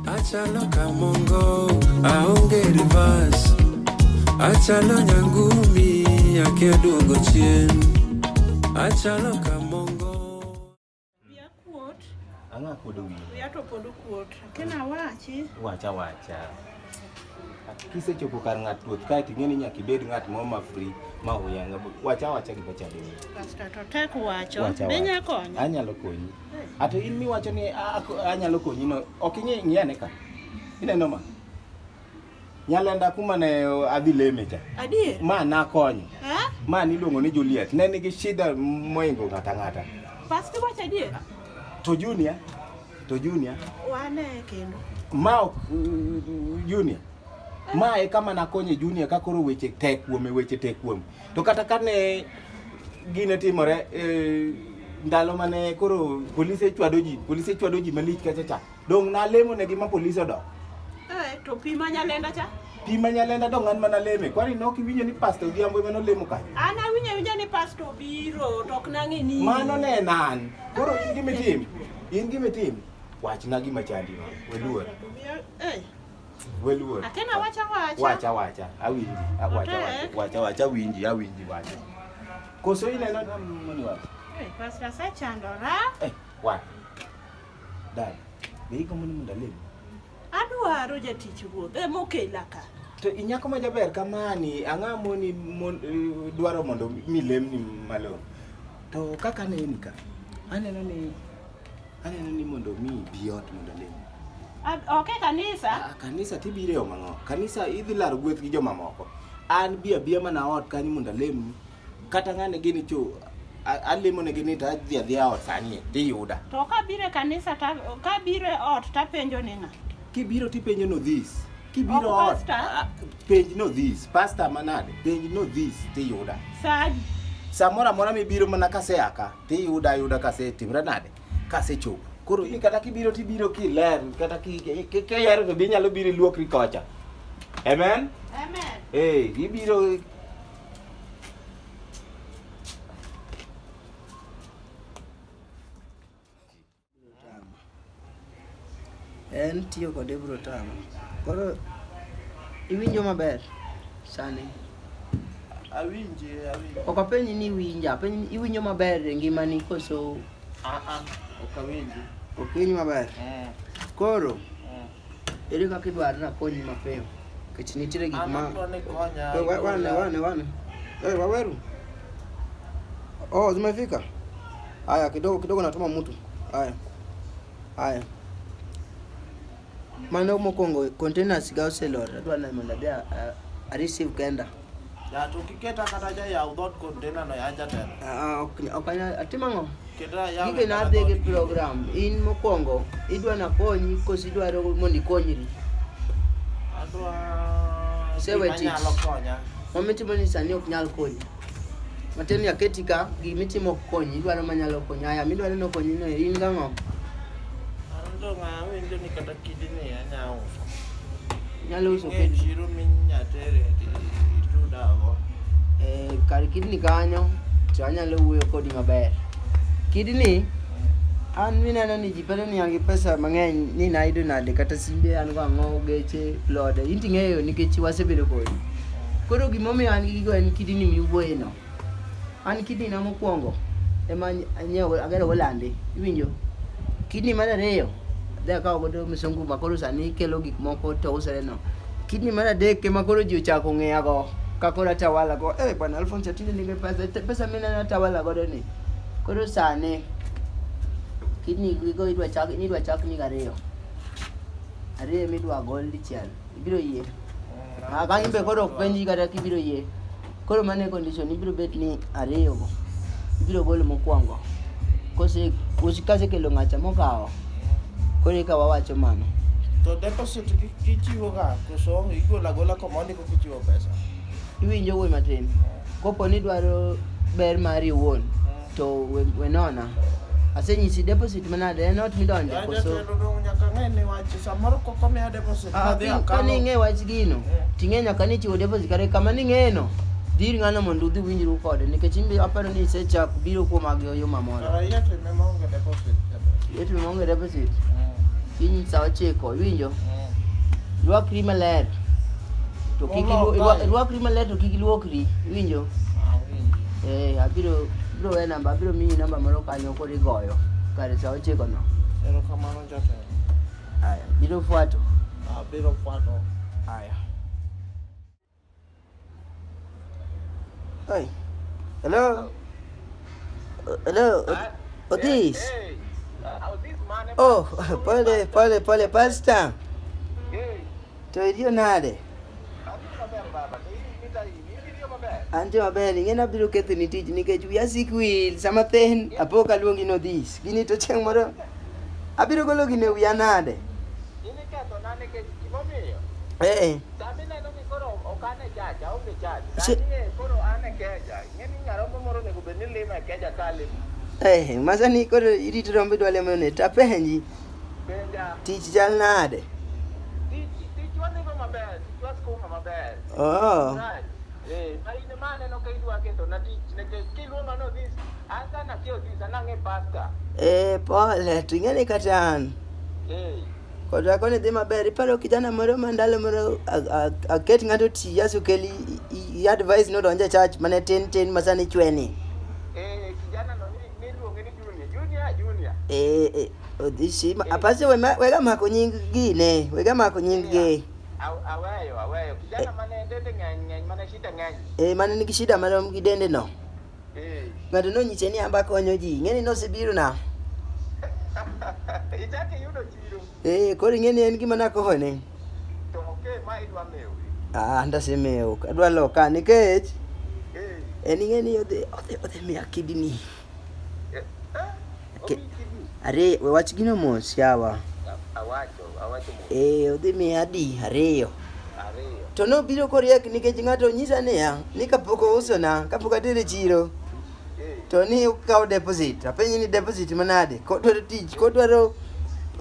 Achalo kamongo aonge rivas Achalo nyangumi akia duogo chien Achalo kamongo Wiya kuot Ang'a kuodo wiya Wiya to pod okuot Kena wachi Wacha wacha kisechopo kar ng'at ruoth kae to ing'e ni nyaka ibed ng'at moro ma free ma huyanga wacha wacha gima chalo wacha wacha be nya konyo anyalo konyi Ato in miwacho ni a- a- anyalo konyi no, ok ing'e ng'iane ka. Ineno ma. Nyalenda kuma ne adhi leme cha. Adier. Ma nakonyo. Eh? Ma niluongo ni Juliet. Ne nigi shida moingo ng'ata ng'ata. Pastor wacho adier. To Junior, to Junior, Wane kendo. ma ok uh, Junior. Ma e kama nakonye Junior ka koro weche tek kuome, weche tek kuome. To kata kane gine timore e, ndalo mane koro polise chwado ji polise chwado ji malich kacha cha dong' nalemo negi ma polise odok Eh, to pi ma nyalenda cha pi ma nyalenda dong' an mana leme kwani ne ok iwinjo ni pasta odhiambo ema nolemo kae an awinjo awinja ni pasto obiro to ok nang'e ni mano ne en an koro in gimitim in gimitim wachna gima chandi no weluor Eh, Weluor. Akena wacha wacha. Wacha wacha. Awinji. Ah, wacha wacha. Wacha wacha winji, awinji wacha. Koso ile na mani wacha. Eh, pastor sa chandora. Eh, wa. Dai. Bei kama ni mndaleni. Adwaro jatich ruoth e mokela ka. To inyako ma jaber kamani ang'a moni eh, dwaro mondo milemni malo. To kaka ne in ka. Aneno ni Aneno ni mondo mi bi ot mondo lemo. Ok e kanisa. Ah, kanisa tibire yo mang'o? Kanisa idhi laro gweth gi jomamoko. An bi abiya mana ot kanyo mondo alem. Kata ng'ane gini cho alemo ne gini to adhi adhiya ot sani tiyuda. To ka bire kanisa ta ka bire ot tapenjo ni ng'a? Kibiro tipenjo no this. Kibiro ot penj no this. Pastor manade penj no this tiyuda. Sadi. Samora mora mibiro mana kaseaka. tiyuda ayuda kasetimra nade kasechopo koro in kata kibiro tibiro kiler kata ki- ki- ki- kihero to be inyalo biro iluokri kocha amen Amen. ee ibiro En tiyo kode biro tama. Koro iwinjo maber sani? Awinje, awinje. Ok apenji ni iwinja, apenji ni iwinjo maber e ngimani koso Ah ah, ok awinje. ok iwinj maber? Eh, Koro eh. Ere kaka idwaro nakonyi mapiyo? Nikech nitiere gik ma wane wane wane. Eh, waweru. Oh, zimefika. Haya, kidogo kidogo natuma mtu. Haya. Haya. Mano mokwongo containers ga oselor. Adwa neno mondo adhi a receive kenda. Ya to kiketa kata ja ya udot container no ya jatelo. Ah, ok ok anya- atimo ang'o Keta ya gige nadhi gi program in mokwongo idwa nakonyi koso idwaro mondo ikonyri Adwa Say what gima it- nyalo konya. mamitimo ni sani ok nyal konyi matin ni aketi ka gimitimo ok konyi idwaro manyalo konyi aya midwaro nokonyi no in gang'o Ando ng'a winjo ni kata Kidini anya uso. Nyalo uso Ng'e kidini. chiro minya tere itudago. Eh, kar kidini kanyo to anyalo wuoyo kodi maber. Kidini an mineno ni ji bedo niya gi pesa mang'eny ni nayudo nade kata simbe an go ang'o geche lode in ting'eyo nikech wasebedo kodi koro gimomiyo an gi gigo en kidini miwuoyeno An kidney na mokwongo ema nyiewo agero go lande iwinjo kidney mar ariyo adhi akawo godo misungu ma koro sani kelo gik moko to usore no kidney mar adek ema koro ji ochako ng'eya go ka koro atawala go eh bwana Alphonse Atinde nigi pesa Te- pesa mine atawala godo ni koro sani kidney gigo idwa chak ni idwa chak ni ariyo ariyo midwa gol dichiel ibiro yie ah, bang' imbe koro ok penji kata kibiro yie koro mane condition ibiro bet ni ariyo go ibiro golo mokwongo kose kasekelo ng'acha mokawo koro eka wawacho mano to deposit ichiwo ga koso igolo agola koma ondiko kichiwo pesa iwinjo wuoyi matin kopo ni dwaro ber mari iwuon To we, we nona. Asenyisi deposit manade en ot midonje Yaani koso. jatelo dong nyaka ng'e ni wach samoro kok omiya deposit Ah, madhi ka- ka akano. ning'e wach gino Eh. ting'e nyaka ni chiwo deposit kare kama ning'eno dhir ng'ano mondo udhi winjru kode nikech imbe aparo ni isechak biro kuom agyo yo mamoro Kara yie time maonge deposit. jatelo. yetu maonge deposit Mm, kiny saa ochiko iwinjo mm. rwakri maler to kik Olok ilu- irwa- kae. irwakri maler to kik iluokri iwinjo Eh, abiro biro we namba, abiro miyi namba moro kanyo koro igoyo kare saa ochiko no. Erokamano jatelo. Aya, biro fuato. Abiro fuato. Aya. Hey. Hello. Hello. Odis. Hey. Uh, Odis man. Oh, pole pole pole pastor. To iriyo nade? Antie maber, ing'e nabiro kethoni tich nikech wiya sik wil sama thin apo ka luongi nodhis. Gini to chieng' moro abiro golo gini e wiya nade? Ee. Che- Eh, masani koro irito rombo idwa lemo ne tapenji. Tich chal nade? Oh. Eh, pole, to ing'e ni kata an. Kota koni dhi maber, iparo kijana moro ma ndalo moro a- a- aket ng'ato ti Yesu keli i- i advice nodonje church mane tin tin masani chweni. Eh, eh, odhishi ma- apase we ma- wega mako nying gine wega mako nying gi aweyo aweyo kijana mane dende ng'eny ng'eny mane shida ng'eny eh, mane nigi shida marom gi dende no Eh. ng'ato nonyise ni amba konyo ji ing'eni nosebiro na ichako iyudo chiro eh, koro ing'eni en gima nakone to oke ma idwa mewi ah, ndasemewo adwa loka nikech Eh. en ing'eni odhi odhi- odhi miya kidini Okay. Are we wach gino mos yawa. Awacho, awacho mos. Eh, odhi mi adi ariyo. Ariyo. To no biro koriek nikech ng'ato nyisa niya, ni kapok ousona, kapok atere chiro. Eh. To ni ukawo deposit, apenyi ni deposit manade? Kodwaro tich, kodwaro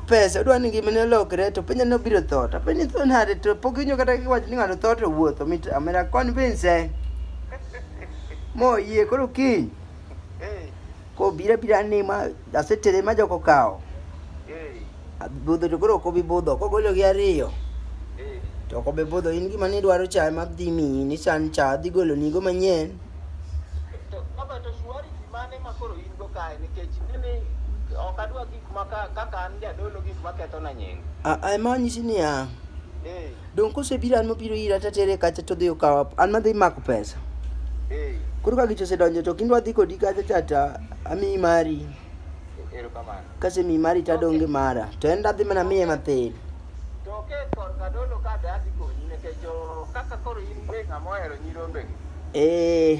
pesa, odwaro ni ngimane olokre, to penja ni obiro tho. To apenyi tho nade? To pok inyo kata kiwacho ni ng'ato tho to wuotho, mit amera convince. Moyie koro kiny. Koro bira bira ni ma asetere ma joko kawo. Budho to koro ok obi budho. Kogolo gi ariyo. To ok obi budho. In gima nidwaro cha ema dhi miyi ni san cha dhi golo nigo manyien. ok adwa gik ma kaka an jadolo gik maketho na nying. Ema onyisi niya. Donge kosebiro an mobiro ira to atere kacha to odhi okawa an madhi mako pesa. Eh, Koro ka gicha osedonjo to kindwa dhi kodi kacha cha to amiyi mari. erokamano. Kasemiyi mari to adong' gi mara. To en dadhi mana miye mathin. To ke korka dolo ka dadi konyi nikech o, kaka koro in be ng'ama ohero nyirombegi. Eh.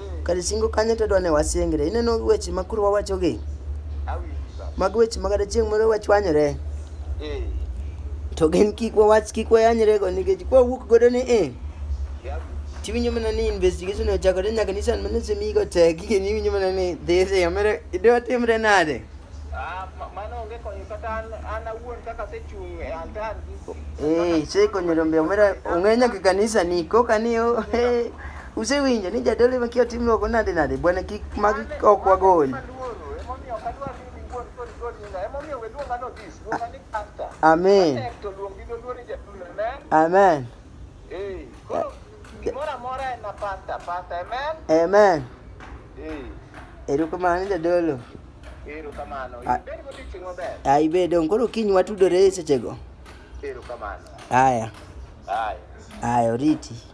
Kar singo kanyo to adwa ni wasingre. Ineno weche ma koro wawachogi? Mag weche ma kata chieng' moro wachwanyore. To gin kik wawach kik wayanyrego nikech kwa wuok godo ni e. Tiwinjo mana ni investigation ochakore nyaka ni sand mane osemigo tek kendo iwinjo mana ni dhi dhi omere idwa timre nade? Eh, sei konyo rombe omera ong'e nyaka kanisa ni koka ni o eh, Usewinjo ni jadolo ema kia tim loko nade nade bwana kik mag ok wagol. Amen. Amen. Amen. Erokamano jadolo. Erokamano. Ibed godiechieng' maber. Ah, ibed dong koro kiny watudore e sechego. Erokamano. Aya. Aya. Aya oriti.